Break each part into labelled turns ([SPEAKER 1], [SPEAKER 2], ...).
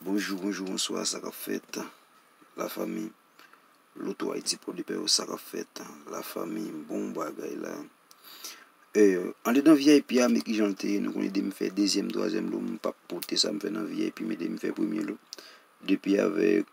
[SPEAKER 1] Bonjou bonjou bonswa sa kap fèt la fami Loto Haïti Port de Paix yo sa kap fèt la fami bon bagay la andedan vip a me kijan l te ye nou konnen depi m fè dezyèm twazyèm lo m pap pote sa m fè nan vip men depi m fè premye lo depi avèk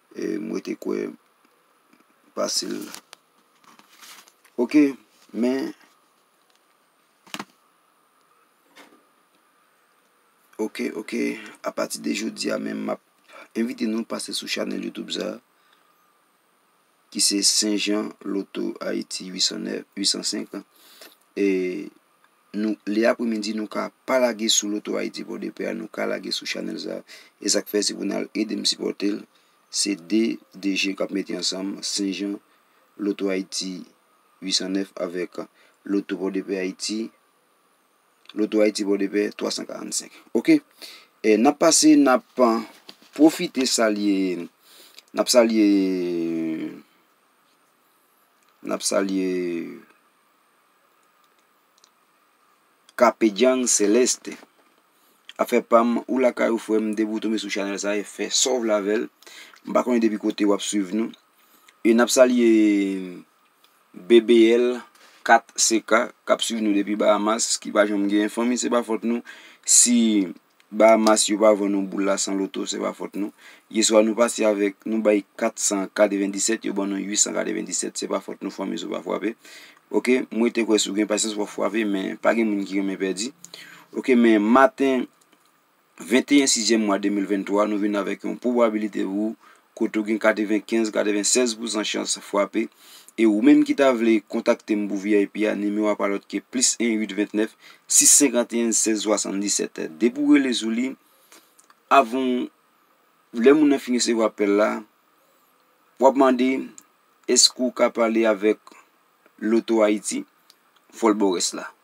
[SPEAKER 1] M rete kwè pase l. Ok men Ok ok a pati de jodi a menm map envite nou pase sou chanèl youtube sa ki se St. Jean Loto Haïti 809 805. E nou le apremidi nou ka pa lage sou loto Haïti port de paix a nou ka lage sou chanèl sa e sak fè si pou nal edem sipòtel se 2 DG kap mete ansanm Sen Jan loto Haïti 809 avèk loto port de paix Haïti loto Haïti port de paix 345 ok e nap pase nap profite salye nap salye. Nap salye Kapedjang Celeste. Afè pam ou lakay ou frèm depi ou tonbe sou chanèl sa e fè sa w vle avè l. M pa konnen depi kote wap swiv nou. E nap salye BBL 4CK kap swiv nou depi Bahamas ki pa janm gen fanmi se pa fòt nou si Bahamas yo pa vann nou boul la san loto se pa fòt nou. Yeswa nou pati avèk nou bay 497 yo ban nou 897 se pa fòt nou fanmi sou pa fwape ok m rete kwè sou gen pasyans wap fwape men pa gen moun ki renmen pèdi ok men maten 21 6 mwa 2023 nou vin avèk yon pwobabilite pou kote ou gen 95, 96 pousan chans fwape, e ou menm ki ta vle kontakte m pou vip a, nimewo a pa lòt ke plis 1 8 29 651 16 77. Depi ou rele sou li, avan w, lè moun nan fin resevwa apèl la, w ap mande èske ou ka pale avèk Loto Ayiti, fò l ba w rès la.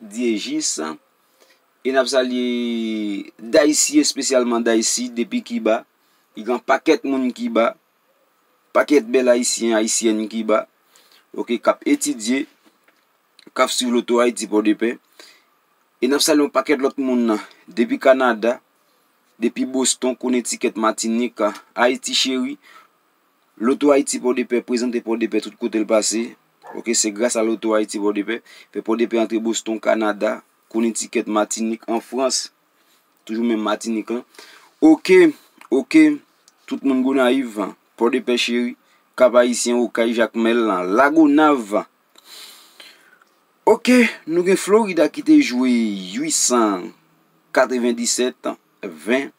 [SPEAKER 1] Dyejis e n ap salye Daysi espesyalman Daysi depi Kiba ki gen yon pakèt moun Kiba, pakèt bèl Ayisyen, Ayisyèn Kiba oke k ap etidye, k ap swiv loto Ayiti Pòdepè e n ap salye yon pakèt lòt moun depi Kanada, depi Boston, Konetikèt, Matinik, Ayiti Cheri. Loto Haiti Pòdepè prezante Pòdepè tout kote l pase ok se gras a Loto Haiti Pòdepè fè Pòdepè antre Boston Kanada Connecticut Matinik an Frans toujou menm Matinik lan ok ok tout moun Gonayiv Pòdepè cheri Kap Ayisyen Okay Jakmèl lan Lagonav ok nou gen Florida ki te jwe 897 20.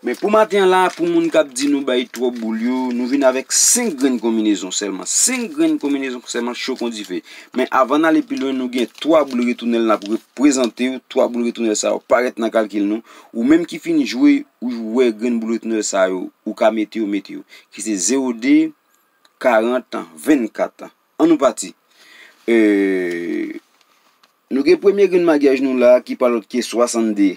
[SPEAKER 1] Men pou maten an la, pou moun k ap di nou bay twòp boul yo, nou vin avèk 5 grenn konminezon sèlman. 5 grenn konminezon sèlman cho kon dife. Men avan n ale pi lwen, nou gen 3 boul retounèl n ap reprezante yo. 3 boul retounèl sa yo parèt nan kalkil nou. Ou menm ki fin jwe, ou wè grenn boul retounèl sa yo, ou ka mete yo, mete yo. Ki se 0, 2, 40, 24. An nou pati. Nou gen premye grenn magyaj nou la ki pa lòt ke 62.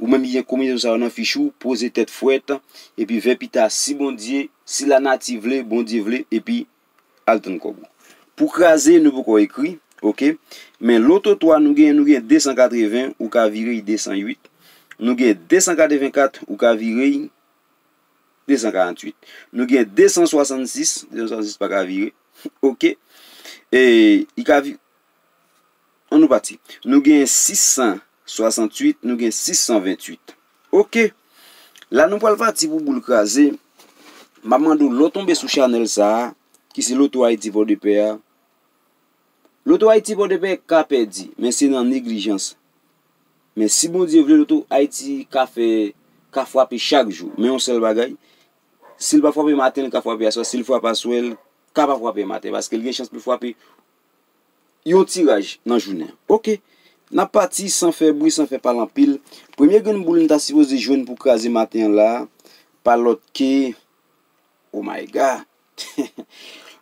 [SPEAKER 1] Ou menm ki gen konbinezon sa yo nan fich ou, poze tèt fwèt, epi vè pita si Bondye, si lanati vle, Bondye vle, epi al tann kòb ou. Pou kraze, nou poko ekri, ok. Men loto 3 nou genyen, nou gen 280, ou ka vire y 208. Nou gen 284, ou ka vire y 248. Nou gen 266, 266 pa ka vire, ok. E, y ka vire. An nou pati. Nou gen 668, nou gen 628. Ok! La nou pral pati pou boule kraze. M ap mande w lè w tonbe sou chanèl sa a, ki se Loto Ayiti Pòdepè a, Loto Ayiti Pòdepè ka pèdi, men se nan neglijans. Men si Bondye vle, Loto Ayiti ka fè, ka frape chak jou. Men yon sèl bagay, si l pa frape maten, li ka frape aswè. Si l frape aswè, li ka pa frape maten. Paske li gen chans pou l frape yon tiraj nan jounen an. Ok, n ap pati san fè bri, san fè pale anpil. Premye grenn boul n ta sipoze jwenn pou kraze maten an la a, pa lòt ke, Oh my God!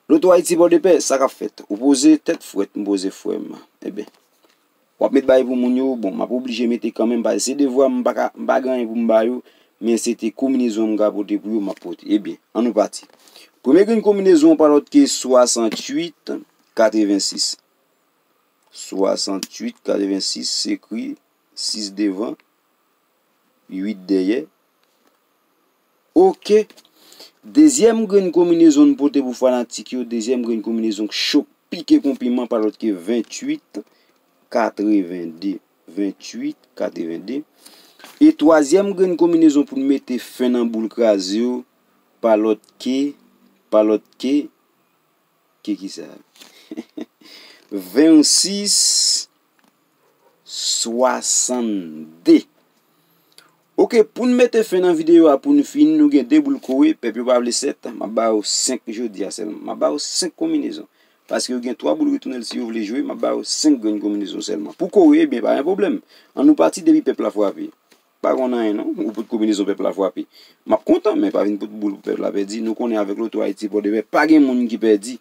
[SPEAKER 1] Loto Ayiti Pòdepè, sa k ap fèt? Ou poze tèt frèt, m poze frè m. Eben. Wap met bay pou moun yo, bon map oblije mete kanmenm paske se devwam m paka m pa gen anyen pou m ba yo men se te konminezon m ka pote pou yo map pote ebyen an nou pati premye grenn konminezon an pa lòt ke 68 86 68 86 se ekri 6 devan 8 dèyè. Ok. Dezyèm grenn konminezon n pote pou fanatik yo, dezyèm grenn konminezon k cho k pike kon piman pa lòt ke 28 82, 28 82. E twazyèm grenn konminezon pou n mete fen nan boul kraze yo pa lòt ke, pa lòt ke, ke kisa? 26. 62. Ok poun mete fen nan video a poun fini nou gen 2 boul kore pèp yo pa vle 7 map ba yo 5 jodia selman map ba yo 5 konminezon paske yo gen 3 boul retounèl si yo vle jwe map ba yo 5 grenn konminezon selman pou kore ebyen pa gen problèm an nou pati depi pèp la fwape pa konn anyen non ou pot konminezon pèp la fwape map kontan men pa vin pot boul pou pèp la pèdi nou konnen avèk loto ayiti pòdepè pa gen moun ki pèdi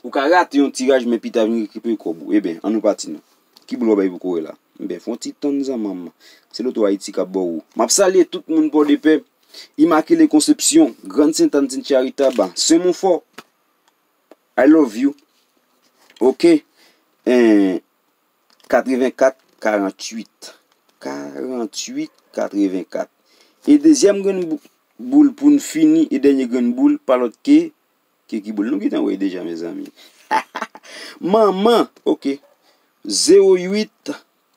[SPEAKER 1] Ou ka rate yon tiraj men pita vin rekipere kòb ou. Eben, an nou pati non. Ki boul w ap bay pou kore la? Eben, fè yon ti tann zanman m. Se loto Ayiti k ap bo ou. M ap salye tout moun Pòdepè, Imakile Konsepsyon, Grann Sentàn Sent Charitab, Sen Monfò. I love you. Ok. Enh. 84 48. 48 84. E dezyèm grenn boul pou n fini, e dènye grenn boul pa lòt ke Ki kiboul nou gentan wè deja mezanmi. Manman ok 0 8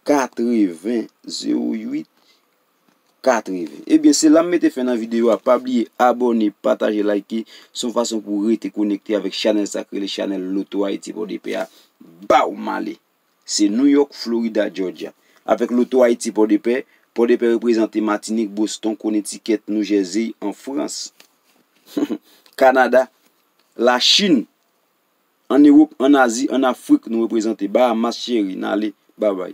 [SPEAKER 1] 80 0 8 80 Ebyen se lam mete fen nan video a pa bliye abone pataje like son fason pou rete konekte avèk chanèl sa ki rele chanèl loto ayiti pòdepè a baww male. Se New York, Florida, Georgia. Avèk loto Ayiti Pòdepè, Pòdepè reprezante Matinik, Boston, Konetikèt, Noujèzey an Frans, Kanada, Lachin, ann Ewop, ann Azi, ann Afrik nou reprezante Bahamas cheri, n ale, babay.